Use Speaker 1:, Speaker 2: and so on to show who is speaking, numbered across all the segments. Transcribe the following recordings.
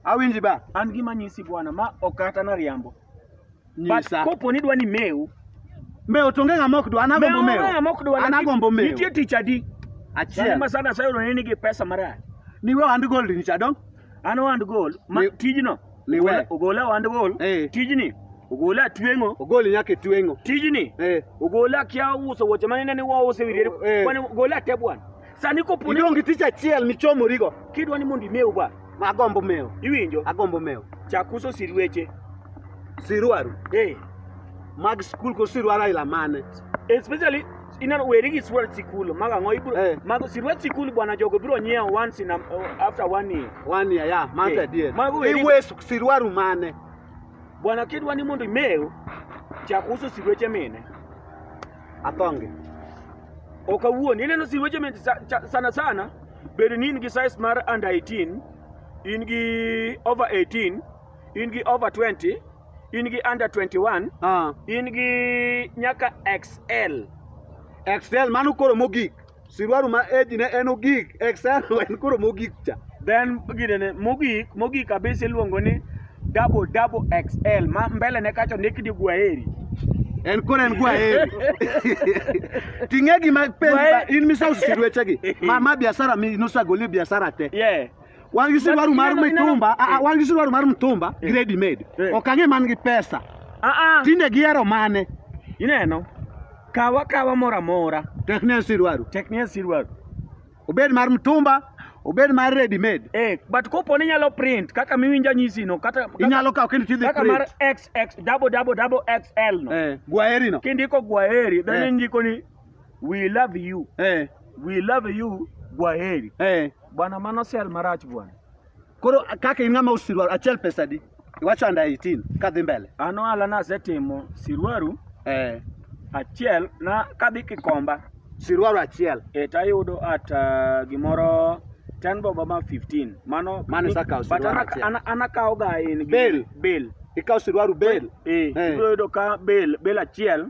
Speaker 1: Awinji ba. An gima nyisi bwana
Speaker 2: ma ok kata na riambo. But Nyisa.
Speaker 1: kopo ni dwa ni
Speaker 2: meu, Mewo to onge
Speaker 1: ng'ama ok dwa. An agombo mewo. ng'a mok dwa. An agombo mewo. Nitie tich adi? Sani
Speaker 2: Achiel. ma sana
Speaker 1: sayudo ni nigi
Speaker 2: pesa marach. Niwe ohand gold
Speaker 1: ni cha dong. An ohand gol,
Speaker 2: ma Ni- tijno. ni ogola- we. Ogola
Speaker 1: ohand gol,
Speaker 2: Eh. tijni. Ogola atweng'o, Ogoli nyaka e tweng'o.
Speaker 1: tijni. Eh.
Speaker 2: Ogola kia uso wuoche manene ni wause wiriere. Eh. Kwani ogola ate bwana. Sani kopo ni Idong' gi tich achiel
Speaker 1: michomorigo. kidwa ni mondo imew ba,
Speaker 2: Ma agombo mewo.
Speaker 1: iwinjo? Agombo mewo.
Speaker 2: Chak
Speaker 1: uso sirweche.
Speaker 2: Sirwaru.
Speaker 1: Eh, Mag skul ko sirwaru aila mane? especially
Speaker 2: ineno weri gi sirwet sikul mag ang'o ibro Eh. mago sirwet sikul bwana jogo biro nyiewo once in a, after one year. One year, yeah. Mago Eh,
Speaker 1: adier. mago weri- Iwe su- sirwaru mane? Bwana
Speaker 2: kidwa ni mondo imew chak uso sirweche mine.
Speaker 1: atonge
Speaker 2: ok awuon ineno si weche mit sa- cha- sana sana bed ni in gi size mar under 18 in gi over 18 in gi over 20 in gi under 21 Ah, in gi nyaka xl excel
Speaker 1: mano koro mogik Siruaru ma age ne en ogik, external en koro mogik cha. Then gine ne
Speaker 2: mogik, mogik kabisa iluongo ni double double XL ma mbele ne kacho ndik ni Gwaheri. En koro
Speaker 1: en Gwaheri. Ting'e gima penji in misawo sirueche gi. Ma ma biashara mi nosagoli biashara te. Yeah. Wan gi siruaru mar mitumba, ah, ah, wan gi siruaru mar mitumba eh. grade made. Eh. Ok ang'e man gi pesa. Ah ah. Tinde gihero mane? Ineno.
Speaker 2: Kaw akawa moro amora. Tekne asirwaru.
Speaker 1: Tekne asirwaru. Obed mar mtumba, obed mar ready made. Eh, but kopo ni nyalo
Speaker 2: print kaka miwinja nyisi no kata inyalo kawo kendo tidhi print.
Speaker 1: Kaka mar XX
Speaker 2: double double double XL no. Eh, gwaheri no. Kindiko
Speaker 1: gwaheri, then
Speaker 2: eh. indiko ni we love you. Eh. We love you gwaheri. Eh. Bwana mano sel marach bwana. Koro
Speaker 1: kaka in ng'ama usirwa achiel pesa di? Iwacho under 18 ka dhi mbele. An ohala nasetimo
Speaker 2: sirwaru eh, achiel na kadhi Kikomba. Sirwaru achiel.
Speaker 1: Eh, tayudo at
Speaker 2: uh, gimoro 10 bob ama 15. Mano Mano isakawo
Speaker 1: but sirwaru achiel. ana- anakawo ga in gi-
Speaker 2: Bail. bail.
Speaker 1: Ikawo sirwaru bel. Eh, Eh. ibiro yudo ka
Speaker 2: bail bail achiel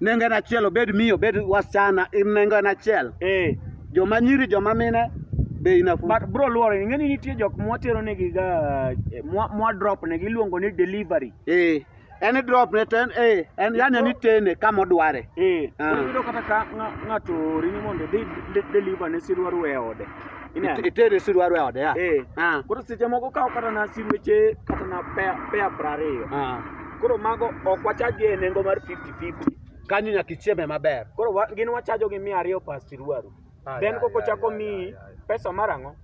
Speaker 2: nengo en
Speaker 1: achiel obed miyo obed wasichana in nengo en achiel eh joma nyiri joma mine be inafu but bro luore ing'e ni
Speaker 2: nitie jok mwatero negi ga eh, mwa, mwa drop negi iluongo ni delivery eh en
Speaker 1: drop ne ten eh en yani ni tene kama odware eh Ah. koro iyudo kata
Speaker 2: ka ng'a- ng'ato ori ni mondo idhi de- deliver ne sirwaru e ode Ineno? It- itere
Speaker 1: sirwaru e ode ya eh ah koro seche
Speaker 2: moko kawo kata na sirweche kata na pea pea prariyo ah Koro mago ok wachajgi e nengo mar 50-50. Kanyo nyaka
Speaker 1: ichieme maber. Koro wa, gin wachajo
Speaker 2: gi mia ariyo pas tiruaru. Ah, Then yeah, koko yeah, chako yeah, mi yeah, yeah. pesa mar ang'o?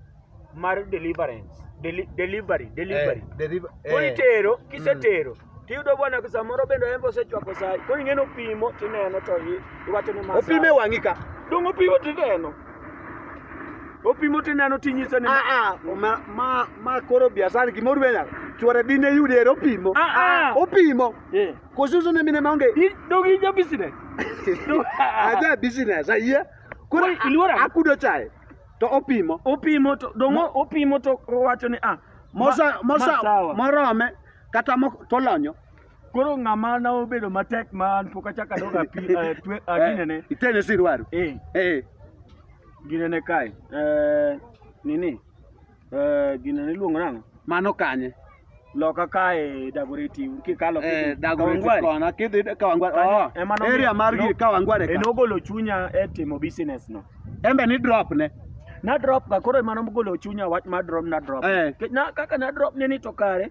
Speaker 2: Mar deliverance. Deli, delivery, delivery. Eh, deriva- Koro eh, itero, kisetero. Tiyudo bwana ka samoro bende en osechwako sai. Koro ing'eno pimo tineno to i- iwacho ni ma Opime sawa. wang'i ka.
Speaker 1: Dongo pimo tineno.
Speaker 2: opimo tineno tinyiso ni ah, ah, ma
Speaker 1: ma koro biasani gimoro benya chwore dine yude ero opimo ah, opimo eh. kosusu ne mine maonge dogi ja
Speaker 2: business
Speaker 1: aja business ayie koro iluora akudo
Speaker 2: chae
Speaker 1: to opimo opimo to dongo
Speaker 2: opimo to owacho ni ah mosa mosa
Speaker 1: morome kata tolonyo Koro ng'ama
Speaker 2: na obedo matek ma an pok achako adog api eh, twe- ah, Eh, ginene. Itene si dwaro.
Speaker 1: Eh, Eh.
Speaker 2: ginene kae. Eh, nini? Eh, ginene iluongo nang'o? Mano kanye.
Speaker 1: Loka kae
Speaker 2: Dagoretti kikalo Eh, Dagoretti Kawangware. kona
Speaker 1: kidhi Kawangware. Kanyo Oh. ema nomiyo- Area mar no- gir Kawangware. ka. Enogolo chunya e
Speaker 2: timo business no. Embe ni drop ne.
Speaker 1: Na drop ga
Speaker 2: koro ema nogolo chunya wach mar drop na drop. Eh. Ke- Na kaka na drop ne ni to kare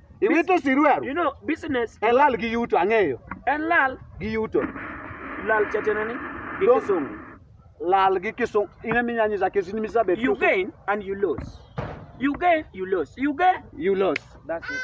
Speaker 2: Iwito siruaru.
Speaker 1: You know, business.
Speaker 2: En lal gi yuto,
Speaker 1: ang'eyo. En
Speaker 2: lal. Gi
Speaker 1: yuto.
Speaker 2: Lal chatena ni. Gi kisungu.
Speaker 1: Lal gi kisungu. Ina minya nyisa kesi ni misa betu. You gain
Speaker 2: and you lose. You gain,
Speaker 1: you
Speaker 2: lose. You gain.
Speaker 1: You
Speaker 2: lose. That's it.